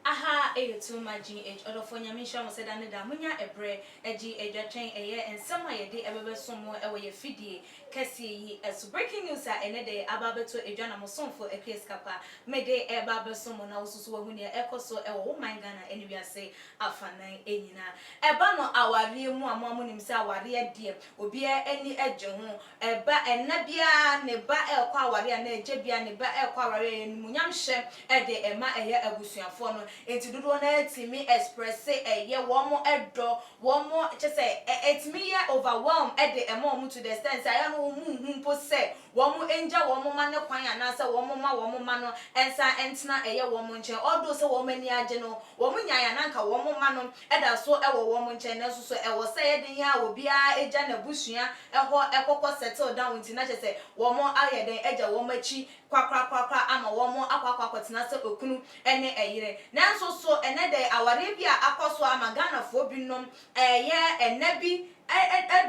Aha yɛ Tulma GH. Ɔdɔfoɔ Nyame nhyira mo sɛ da ne da monya ɛberɛ gye adwa twɛn ɛyɛ nsɛm a yɛde bɛbɛso mo wɔ yɛ afidie kɛseɛ yi so Breaking news a ɛnɛ da yi aba abɛto adwa na mo somfo Akua Sika Pa mede reba abɛso mo na wo nso so wahu nea ɛkɔ so wɔ wo man Ghana ne wiase afanan nyinaa Ɛba no awareɛ mu a mo a monim sɛ awareɛ deɛ obiara ani gye ho Ɛba ɛna biara ne ba rekɔ awareɛ anaa agya biara ne ba rekɔ awareɛ a animuonyam hyɛ de ma ɛyɛ abusuafoɔ no enti dodoɔ no ara tumi expresse ɛyɛ wɔn dɔ wɔn kyɛ sɛ ɛtumi yɛ overwhelm de ma wɔn to the extent sɛ ɛyɛ a na wɔn nhu mpo sɛ wɔn ngya wɔn mma no kwan anaasɛ wɔn mma wɔn mma no nsan ntena ɛyɛ wɔn nkyɛn although sɛ wɔn ani agye no wɔn nyae a na anka wɔn mma no da so wɔ wɔn nkyɛn nanso so ɛwɔ sɛ ɛyɛ den a obiara gya n'abusua hɔ kɔkɔ settle down nti na kyɛ sɛ wɔn ayɛ dɛn agya wɔn akyi kwakorakorakora ama wɔakɔ akɔ akɔtena sɛ okunu ne ɛyere. Nanso so ɛnnɛ da yi awareɛ bi a akɔ so ama Ghanafoɔ binom ɛyɛ ɛnna bi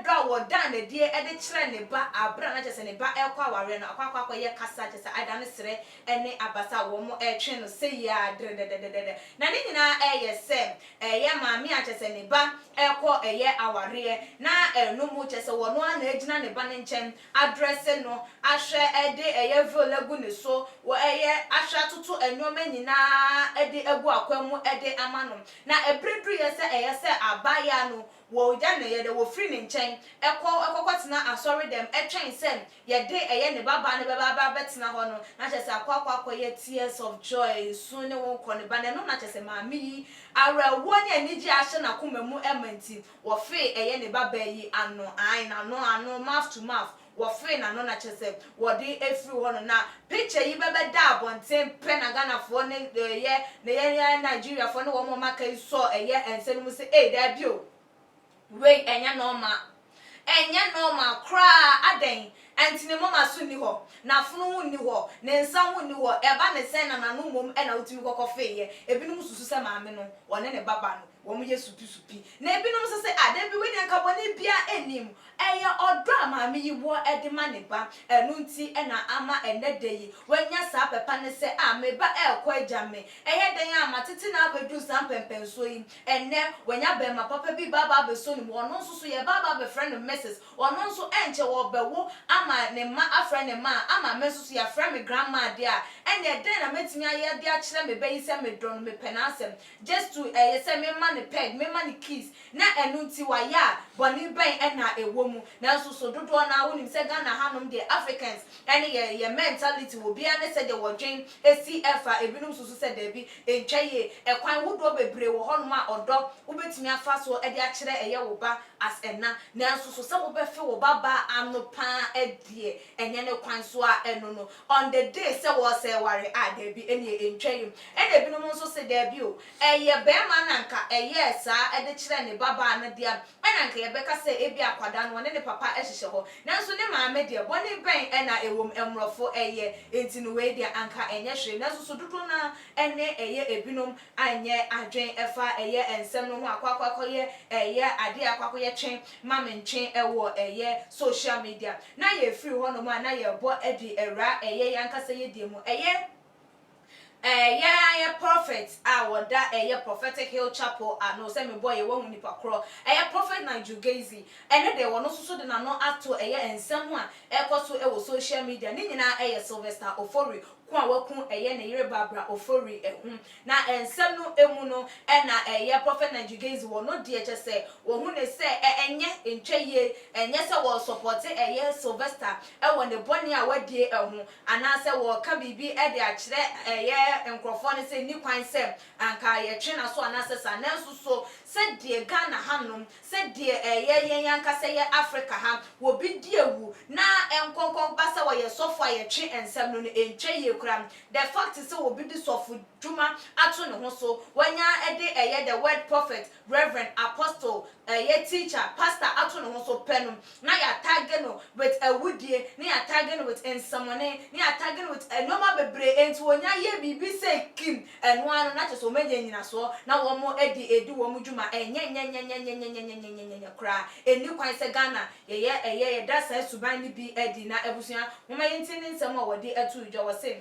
dɔ a wɔda no adie de kyerɛ ne ba aberɛ a na kyerɛ sɛ ne ba rekɔ awareɛ no akɔ akɔ akɔyɛ kasa kyerɛ sɛ adane serɛ ne abasa a wɔretwe no sei ara dredɛdɛdɛdɛdɛ na ne nyinaa ɛyɛ sɛ ɛyɛ maame a kyerɛ sɛ ne ba rekɔ ɛyɛ awareɛ na ɛno mu kyerɛ sɛ wɔno ara na agyina ne ba no nkyɛn adrɛse no ahwɛ de ɛyɛ veil agu ne so wɔ ɛyɛ ahwɛ atoto nnoɔma nyinaa de agu akwan mu de ama no. Na ɛberɛ duruiɛ sɛ ɛyɛ sɛ abaayaa no wɔgya no yɛdɛ wɔfiri ne nkyɛn kɔ kɔkɔtena asɔre dɛm twɛn sɛ yɛde ɛyɛ ne babaa no bɛba abɛtena hɔ no na kyerɛ sɛ akɔ akɔyɛ tears of joy nsu ne wo kɔ ne ba no ɛno na kyerɛ sɛ maame yi awerɛhoɔ ne anigyeɛ ahyɛ n'akoma mu ma nti Wɔfee ɛyɛ ne babaa yi ano, ae, n'ano, ano, mouth to mouth, wɔfee n'ano na kyerɛ sɛ wɔde afiri hɔ no, na picture yi bɛbɛda abɔnten pɛ na Ghanafoɔ ne ɛyɛ ne yɛn yɛn Nigeriafoɔ ne wɔn a wɔaka yi sɔ ɛyɛ nsa no mu sɛ ei daabi o, wei ɛnyɛ nɔɔma, ɛnyɛ nɔɔma koraa, adɛn nti ne moma so nni hɔ, n'afono ho nni hɔ, ne nsa ho nni hɔ, ɛba ne sɛn na n'ano mmom na wotumi kɔkɔfeeɛ, ebinom susu sɛ maame no ɔne ne baba no. Wɔyɛ supi-supi, na ebinom nso se, Ah, dabi, wei deɛ anka bɔne biara nni mu. Ɛyɛ ɔdɔ a maame yi wɔ de ma ne ba. Ɛno nti na ama ɛnnɛ da yi wanya saa pɛ pa no sɛ, Ah, me ba rekɔ agya me. Ɛyɛ dɛn ara a, matete no ara abɛduru saa mpɛnpɛnsoɔ yi. Ɛnnɛ, wanya barima papa bi ba aba abɛsɔ ne mu. Ɔno nso so, yɛba aba abɛfrɛ no Mrs. Ɔno nso, ɛnkyɛ ɔrebɛwo ama ne mma afrɛ no ma. Ama me nso so, yɛafrɛ me Grandma deɛ a, ɛnneɛ dɛn na mɛtumi ayɛ de akyerɛ me ba yi sɛ medɔ no, mepɛ n'asɛm? Gyestuu ɛyɛ sɛ memma no peg, memma no kiss, na ɛno nti wayɛ a, bɔne bɛn na ɛwɔ mu? Nanso so dodoɔ no ara wonim sɛ Ghana hanom deɛ Africans ne yɛ yɛ mentality wɔ biara ne sɛdeɛ wɔdwen si fa, ebinom susu sɛ daabi, ɛntwa yie, ɛkwan hodoɔ bebree wɔ hɔnom a ɔdɔ wobɛtumi afa so de akyerɛ ɛyɛ wo ba as ɛna, nanso so sɛ wobɛfe wo ba baa ano paa deɛ ɛnyɛ ne kwan so a ɛno no On the day sɛ wɔresɛe ware a, daabi, ɛnneɛ ɛntwa yam. Ɛna ebinom nso se, daabi o, ɛyɛ barima na anka ɛyɛɛ saa de kyerɛɛ ne babaa no dea, ɛna anka yɛbɛka sɛ ebia akwadaa no ɔne ne papa hyehyɛ hɔ, nanso ne maame deɛ, bɔne bɛn na ɛwom? Mmorɔfo yɛ, enti no wei deɛ anka ɛnyɛ hwee, nanso so dodoɔ no ara ne ɛyɛ ebinom anyɛ adwen ɛfa ɛyɛ nsɛm no ho akɔ akɔ akɔ yɛ ɛyɛ adeɛ akɔ akɔ yɛ twen ma me ntwen ɛwɔ ɛyɛ social media na yɛ firi hɔ nom a na yɛ bɔ ɛde ɛwura ɛyɛ yɛ ankasa yɛ deɛ mu ɛyɛ ɛyɛ ɛyɛ prophet a wɔda ɛyɛ prophetic hill chapel ano sɛ me bɔ yɛ wahu nipa korɔ ɛyɛ prophet Nigel Gaizy ɛnɛ dɛ wɔno nso so de nano ato ɛyɛ nsɛm ho a ɛkɔ so ɛwɔ social media ne nyinaa ɛyɛ Sylvester Ofori ko a waku ɛyɛ ne yere Barbara Ofori ɛho na nsɛm no ɛmu no ɛna ɛyɛ Prophet Naijigazy wɔ no deɛ kyɛ sɛ wɔhu ne sɛ ɛnyɛ ntwa yie ɛnyɛ sɛ wɔ sɔpɔte ɛyɛ Sylvester ɛwɔ ne bɔne a wadie ɛho anaa sɛ wɔ ka biribi ɛde akyerɛ ɛyɛ nkorɔfoɔ no sɛ nni kwan sɛ anka yɛtwe naso anaa sɛ saa nanso so sɛ deɛ Ghana hanom sɛ deɛ ɛyɛ yɛn ankasa yɛ Afrika ha, wɔ bi di awu na ɛnkɔnkɔn ba sɛ ɔyɛ sɔfo a yɛtwe nsɛm no no ɛntwa yie koraa. The fact sɛ obi de sɔfo dwuma ato ne ho so, wanya de ɛyɛ the word prophet, reverend, apostle, ɛyɛ teacher, pastor ato ne ho so pɛ no, na yɛ attage no with awudie, na yɛ attage no with nsɛmɔne, na yɛ attage no with nnoɔma bebree, enti wɔnya yɛ biribi sei kim, ɛno ara no na kyerɛ sɛ wɔanya nnyinasoɔ na wɔde redi wɔn dwuma, ɛnyɛ nyɛnyɛnyɛ koraa, ɛnni kwan sɛ Ghana yɛyɛ ɛyɛ, yɛda saa suban no bi adi, na abusua, momma yɛntie ne nsɛm a wɔde ato dwa, wɔse.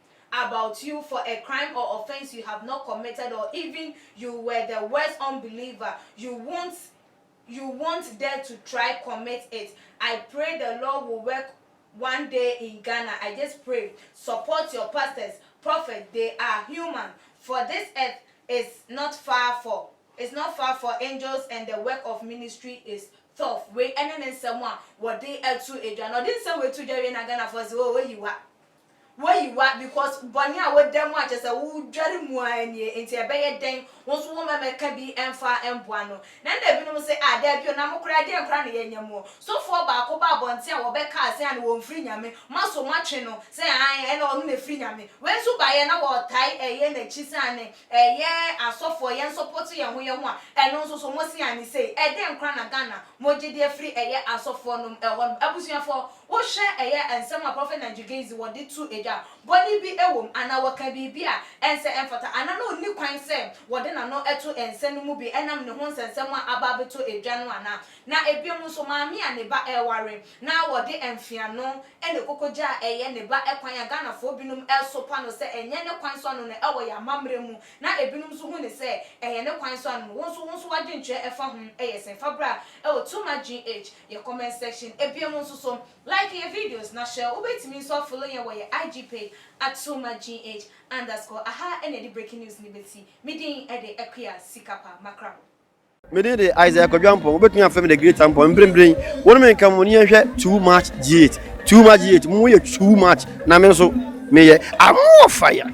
about you for a crime or offence you have not committed or even you were the worst unbeliever you wont you wont dare to try commit it I pray the law will work one day in Ghana I just pray support your pastors prophet they are human for this earth is not far for is not far for angels and the work of ministry is tough wei ɛne ne nsɛm a wɔde ɛto adwa na ɔde nsɛm wei to dwa wei na Ghanafoɔ se oh oyiwa Woyi wa because bɔne a woda mu a kyerɛ sɛ wodware mu ara nie nti ɛbɛyɛ dɛn wo nso wo mɛmɛ ka bi mfa mboa no. Na nna binom se ah daabi o na mo koraa deɛn koraa na yɛnyɛ moɔ. Sofoɔ baako baa abɔnten a wɔbɛkaa se ana wɔnfiri Nyame, moaso moatwe no sɛ aane ɛna ɔno na ɛfiri Nyame. Wei nso baeɛ na wɔtae ɛyɛ nakyi se aane ɛyɛ asɔfoɔ yɛn sɔpɔto yɛn ho yɛn ho a ɛno nso so mose aane sei. Ɛdeɛn koraa na Ghana mogye deɛ firi ɛyɛ asɔfoɔ nom ɛhɔ nom. Abusuafoɔ Wohwɛ ɛyɛ nsɛm a Prophet Nigel Gaize wɔde to edwa a, bɔne bi wom anaa wɔka biribi a ɛnsɛ ɛmfata anaa na onni kwan sɛ wɔde n'ano to nsɛm no mu bi ɛnam ne ho nsɛnsɛm a aba abɛtɔ edwa no anaa? Na ebinom nso, maame a ne ba reware na wɔde mfeano ne kokogya a ɛyɛ ne ba kwan a Ghanafoɔ binom sopa no sɛ ɛnyɛ ne kwan so ano no ɛwɔ yɛn amammerɛ mu na ebinom nso hu no sɛ ɛyɛ ne kwan so ano no, wo nso wo nso w'adwenkyerɛ ɛfa ho yɛ sɛn? Fa bra ɛwɔ Too Much GH. Yɛ comment section ebien mu nso so. Like yɛ videos na hyɛ wo bɛtumi nso afollow yɛn wɔ yɛ IG page at Soma GH underscore aha na yɛde breaking news no bɛsi. Me din de Akua Sikapa Makrabo. Me din de Isaac Kwadwo Ampong, wobɛtumi afrɛ me the great Ampong mprempren wo ne me nka mu ne yɛnhwɛ too much GH too much GH mo yɛ too much na me nso meyɛ I'm more fire.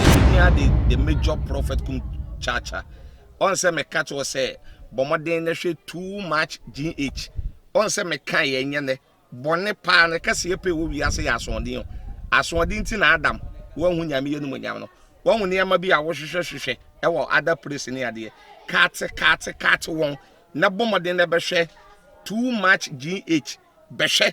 Nehemia de the major prophet kum kyaakya. Ɔn sɛ meka kyerɛ sɛ bɔ mmɔden na hwɛ too much GH. Ɔn sɛ meka yɛ nyɛ nɛ bɔne paa ne kɛseɛ pɛ wɔ wiase yɛ asoɔden o. Asoɔden ti na Adam wanhu nyame yɛ no mu nyam no. Wahu nneɛma bi a wohwehwɛ hwehwɛ ɛwɔ other place ne adeɛ. Kaate kaate kaate wɔn na bɔ mmɔden na bɛhwɛ too much GH. Bɛhwɛ